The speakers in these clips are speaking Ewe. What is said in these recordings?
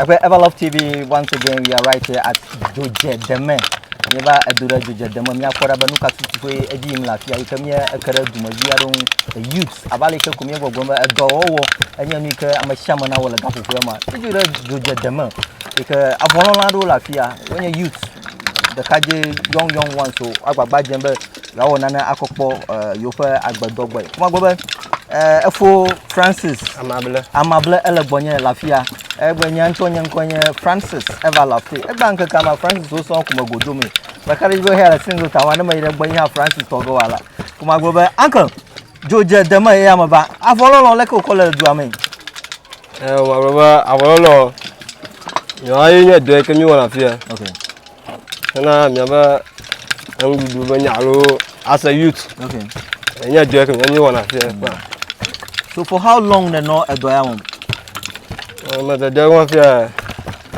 Eƒe Everlove TV, once again we are right here at Dodge Deme. Nye va edo ɖe Dodge Deme, mia kpɔ ɖa be nuka tutu ƒe edzi yim le afi ya, yike mia eke ɖe dume vi aɖewo ŋu, the youths, ava le yike ko mia gbɔgblɔ be edɔ wɔwɔ enye nu yike ame sia ame na wɔ le gaƒoƒoa ma. Edzo ɖe Dodge Deme, yike avɔlɔla aɖewo le afi ya, wonye youths, ɖekadze young young ones o, agbagba dzem be Yewoawɔ nane akɔ kpɔ yewoƒe agbedɔ gbɔe. Kuma gbɔ be efo Francis amable amable ele gbɔnye le afia. Egbe nya ŋutɔ nye ŋkɔ nye Francis eva le afi. Egba ŋkeke ma Francis wo sɔ kume godo me. Ɖeka ɖe be hea le single ta wane me yi ɖe gbɔ nye Francis tɔgɔ wala. Kuma gbɔ be uncle dzodze deme ye ame ba avɔlɔlɔ leke wokɔ le dua me. Eh, ma baba avɔlɔlɔ. Yo ayi nye dɔ ke mi wala fia. Okay. hena miabe enuɖuɖu be nya alo as a youth okay enye dɔ ke enye wɔna fi kpa so for how long ne nɔ edɔ ya wɔm me de de wɔn fi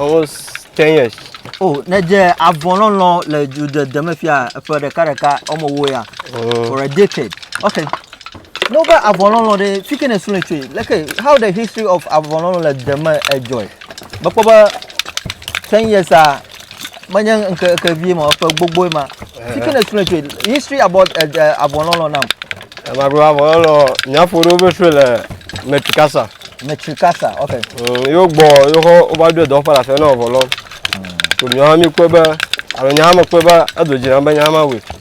almost 10 years oh ne dze avɔ lɔlɔ le dzodede me fia eƒe ɖeka ɖeka ɔmɔ wo ya mm. for a decade okay no be avɔ lɔlɔ de fi ke ne sule tsoe like how the history of avɔ lɔlɔ le deme enjoy Mekpɔ be ten years a menye ŋkeke vie ma, ƒe gbogboe ma. Eh. Teaching a student trade, history about uh, eh, eh, avɔlɔlɔ nam. Magbe avɔlɔlɔ nyaƒo ɖewo be sue le Metrikasa. Metrikasa, ok. Mm, yo gbɔ, yo xɔ wova ɖo dɔ ƒe afɛ na avɔlɔ. Tòmí hã mi kpɔe be, alo nya hã mekpɔe be edo dzi nam be nya hã mawɔe.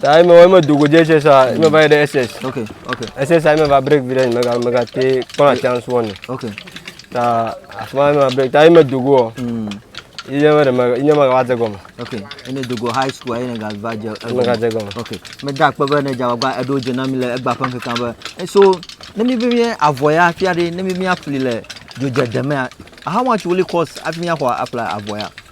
Taa eme eme do godze SS a eme mm. va yi ɖe SS. Ok ok. SS a eme va break vi ɖe nye mega mega te kpɔna chance wɔne. Ok. Ta asuma eme va break ta eme do go. Mm. Iye me ɖe me iye me va dze gɔme. Ok. Ene do go high school ene ga va dze. Ene ga dze gɔme. Ok. Me da akpe be ne dza wagba eɖo dze na mi le egba ƒe ŋkeke be. Eso ne mi be mi avɔ ya fia ɖe ne mi mi afli le dzodzedemea. How much will it cost? Afimi axɔ afla avɔ ya.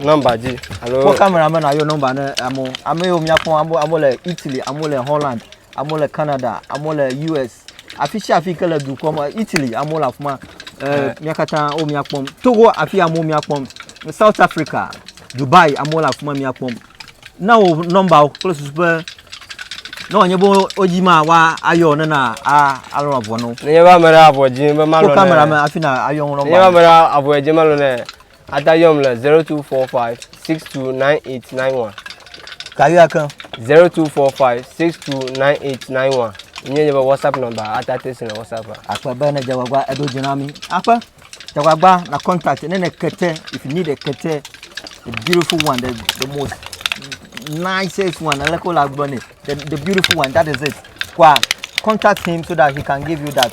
Nɔmba dzi alo. Kpɔ kamera me na yɔ nɔmba ne amewo. Ame yiwo míakpɔ amewo le Italy, amewo le Holland, amewo le Canada, amewo le US. Afi sia afi ke le dukɔ me Italy amewo le afi ma. Eh, mía katã wo míakpɔm. Togo afi amewo míakpɔm. South Africa, Dubai amewo le afi ma míakpɔm. Na wo nɔmba kple susu be ne wòanye be wo dzi ma wa ayɔ ne na a alɔ avɔ no. Ne nye be ame ɖe avɔ dzi be malɔ ne. Kpɔ kamera me afi na ayɔ nɔmba. Ne nye be ame ɖe avɔ dzi malɔ ne. Ada yɔm le 0245629891. Kavi ake. 0245629891. Nye nye be WhatsApp number ata te si le WhatsApp. Akpa be ne jawagba edo jinami. Apa jawagba na contact ne ne kete if you need a kete the beautiful one the, the most nicest one aleko la gbɔ ne the, the beautiful one that is it. Kwa contact him so that he can give you that.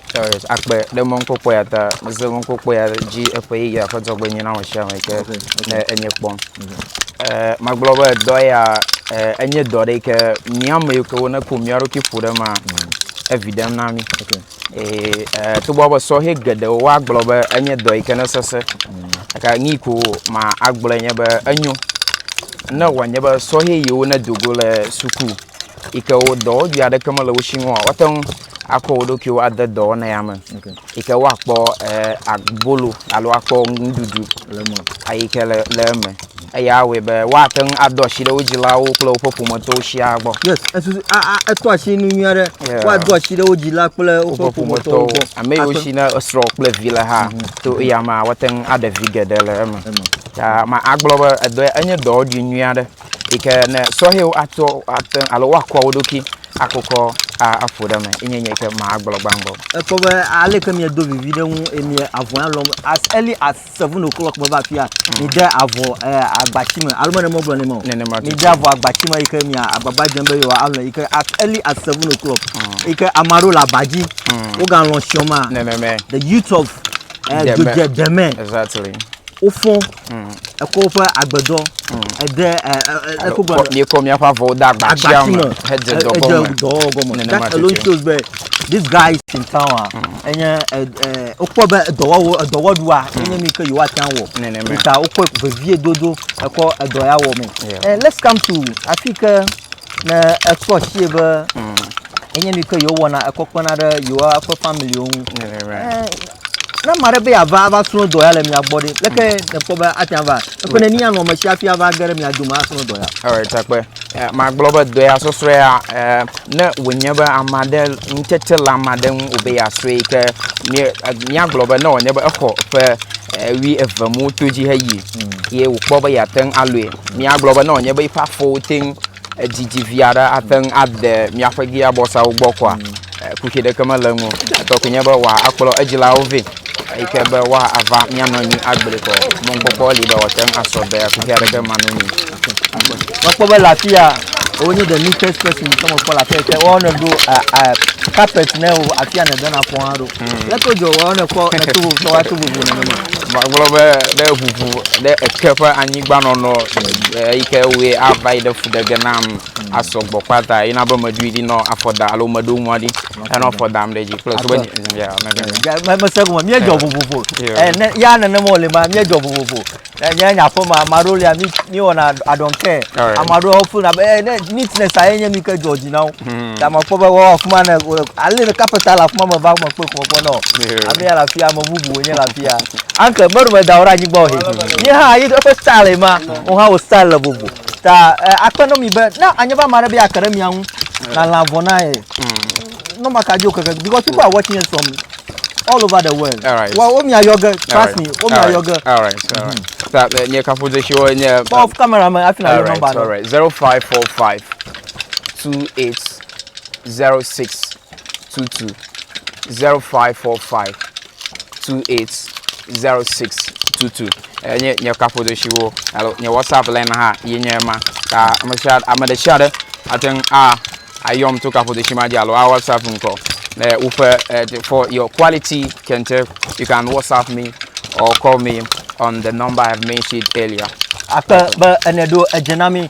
akpe ɖe mɔnukpɔkpɔ ya ta mese mɔnukpɔkpɔ ya dzi eƒe yeyea ƒe dzɔgbenyui na ame sia ame ke ne enye kpɔm. Eh, magblɔ be dɔ ya eh, enye dɔ ɖe ke mía ame yiwo ke woneku mía ɖokui ƒo ɖe ma evi ɖem na mí. Eh, eh, togbɔ be sɔhɛ geɖewo woagblɔ be enye dɔ yi ke ne sese. Eka nyi ko ma agblɔ nye be enyo ne wòanye be sɔhɛ yiwo ne dogo le suku. yi ke wo dɔwɔɖui aɖeke mele wo si ŋua, woate ŋu akɔ wo ɖokuiwo ade dɔwɔna ya me okay. yi ke woakpɔ eh, abolo alo akpɔ nuɖuɖu yi ke le, le eme eya awɔe be woate ŋu ado asi ɖe wo dzilawo kple woƒe ƒometɔwo sia gbɔ. yes esusu eto asi nu nyui aɖe woado asi ɖe wo dzila kple woƒe ƒometɔwo gbɔ. ame yiwo si ne esrɔ̃ kple vi le hã mhm. to eya ma woate ŋu aɖe vi geɖe le eme. ta ma agblɔ be edɔ enye dɔwɔɖui nyui aɖe. yi ke ne sɔhɛwo atsɔ ate ŋu alo woakɔ wo ɖokui akokɔ aƒo ɖe eme yi nye nye ke magblɔ gbãgbɔ. Ekpɔ be ale ke miedo vivi ɖe ŋu eye mie avɔ ya lɔm as early as seven o'clock meva afi ya mm. mide avɔ eh, agbati me alo mene megblɔ ne ma o mide avɔ agbati me yi ke mia agbagba dzem be yewoa alɔ yi ke as early as seven o'clock mm. yi ke ame aɖewo le aba dzi mm. wogalɔ siɔma the youth of eh, dodze deme wofɔ ekɔ woƒe agbedɔ ede ekɔ gbe míekɔ míaƒe avɔwo de agbatia me hedze dɔ gɔme dɔwɔwɔ gɔme nenema that alone shows be this guy is in town a enye wokpɔ be edɔwɔwɔ edɔwɔɖua enye mi ke yewoate ŋu awɔ nenema ta wokpɔ vevie dodo ekɔ edɔ ya wɔ me and let's come to afi ke ne ekpɔ si be enye mi ke yewowɔna ekɔ kpena ɖe yewoa ƒe family wo ŋu nenema Ne ame aɖe be yeava ava srɔ̃ dɔ ya le mia gbɔ ɖe, leke nèkpɔ be ate ŋu ava? Eƒe neni anɔ ame sia hafi ava ge ɖe mia dome asrɔ̃ dɔ ya? Ewɔ takpe. Eh, magblɔ be dɔ ya sɔsrɔ̃ ya, eh, ne wònye be ame aɖe ŋutsetse le ame aɖe ŋu wòbe yeasrɔ̃e ke mía- eh, míagblɔ be ne wònye be exɔ ƒe eh, wui eve mu to dzi heyi ye wòkpɔ be yeate ŋu alɔe. Míagblɔ be ne wònye be eƒe afɔwo te ŋu edidi vi aɖe ate ŋu ade míaƒe giabɔsawo gbɔ koa, Kuxi ɖeke mele eŋu o. Etɔ koe nye be wòakplɔ edzilawo vɛ eyi ke be woava míanɔ anyi agbli kɔ. Mɔkpɔkpɔ li be wòate ŋu asɔ be kuxi aɖeke manɔ anyi. Mekpɔ be le afi ya wonye the neatest person ke mekpɔ le afi ya yi ke woyɔnɛ ɖo carpet ne wo afi ya nèdena afɔ hã ɖo. Lé ke wodze woyɔnɛ kpɔ le to vovo tɔwoa to vovo nene ma. Magblɔ be ɖe ʋuʋu ɖe eke ƒe anyigba nɔnɔ eyi ke woe ava yi ɖe fu ɖe ge nam. asɔ gbɔ kpata yina be meɖui ɖi nɔ afɔ da alo meɖo nua ɖi enɔ afɔ dam ɖe dzi kple so be ya mebe mese gome míedzɔ eh. vovovo eh, ne ya nenema wòle ma míedzɔ vovovo eh, nye nye aƒe ma ame aɖewo lia míwɔna adɔnkɛ ame aɖewo fona be eh, ne neatness aye nye mi ke dzɔ dzi na wo hmm. ta ma kpɔ be wɔwɔ afi ma ne ale ne kapeta le afi ma me va me kpe kpɔ kpɔ nɔ ame ya le afi ya ame bubu wònye le afi ya anke mɛɖo mɛdawo ɖe anyigba o he nye hã yi eƒe style ma wo hã wo style le vovo Ta eh, akpe ɖe mi be ne anye be ame aɖe be yeake ɖe mia ŋu lalã vɔ na ye. Ne maka dzi o keke because people are watching us from all over the world. All right. Wa wo mia yɔ ge trust me wo mia yɔ ge. All right. All right. Ta eh, nye kafudzesiwo nye. eh, Kpɔ kamera me hafi na All yɔ right. nɔmba All na. right. Zero five four five two eight zero six two two zero five four five 280622 nye nye kaƒodesiwo alo nye whatsapp line hã yi nye ma ta ame sia ame ɖe sia ɖe ate ŋu a ayɔm to kaƒodesi ma dzi alo a whatsapp ŋkɔ le woƒe uh, for your quality kente you can whatsapp me or call me on the number i have mentioned earlier akpe be ene ɖo edze na mi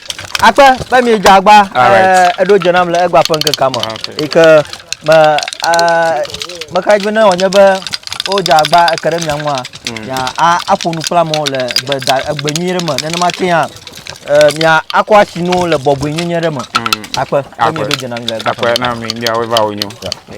Akpe be miedze agba eɖo dze nam le egba ƒe ŋkekea me ah, yi ke me meka dzi be ne wònye be wodze agba eke ɖe mia ŋua hmm. aƒo nu kple amewo le egbe nyui ɖe me nenema ke hã mia akɔ asi nu le bɔbɔe nyenye ɖe me hmm. akpe be mieɖo dze nam le egba ƒe ŋkekea me.